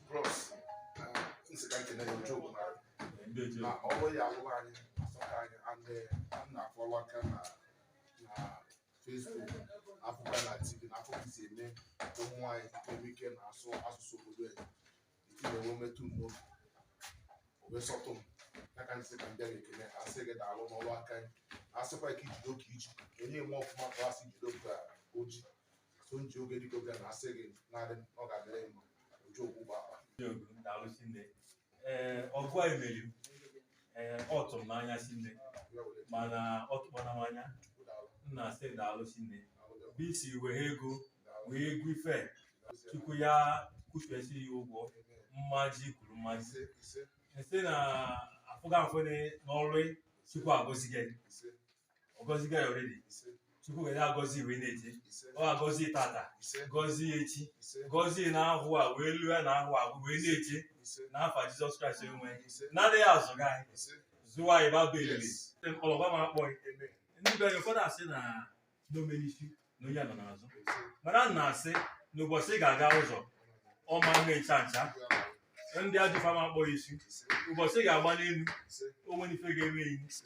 bros m sị ka m kene ya joke na na ọrụ ya alụrụ anyị asọka anyị and eh, m na-afollow aka na na Facebook afụkwa na TV na afụ ka i si eme ụmụ anyị enwe ike na asụ asụsụ obodo anyị itinye nwe metụ m n'obi o wee sọtụ m ya ka m sị ka m bịa ekele ha asị gị daalụ n'ọrụ aka anyị asịkwa ka i jide ka i ji onye mee ọfụma ka a sị jide ka o ji so m ji oge dịka oge na asị gị nwanne m ọ ga-adịrị gị mma oji okwu gba akpa daalụ sinne ee ọgọ i meri m ee ọ tụrụ m n'anya sinne ya were mana ọ tụkwana m anya chukwu daalụ m na-asị daalụ sinne daalụ daalụ ebe i si wee ego daalụ wee ego ife daalụ chukwu ya kwuchesi ya ụgwọ Amen. mmaji kwuru mmaji ise ise m sị na afụga afụne n'ọrụ chukwu agọzi gị ise ọ gọzigo ya already ise chukwu ga na-agọzi wee na-eje ise ọ agọzi tata ise gọzie echi ise gọzie n'ahọ a wee lue n'ahọ a wee na-eje ise n'afa jizọs kraịst enwe ise na-adịghị azụ gị anyị ise zụwa anyị baba elele yes ọlọgba ma akpọ gị amen ndị be anyị ụfọdụ asị na n'omenifi na onye nọ n'azụ ise mana m na-asị na ụbọchị ị ga-aga ụzọ ọ ma nwe ncha ncha ndị ajọ ife ma akpọ gị isi ise ụbọchị ị ga-agba n'elu ise onwe n'ife ga-eme gị ise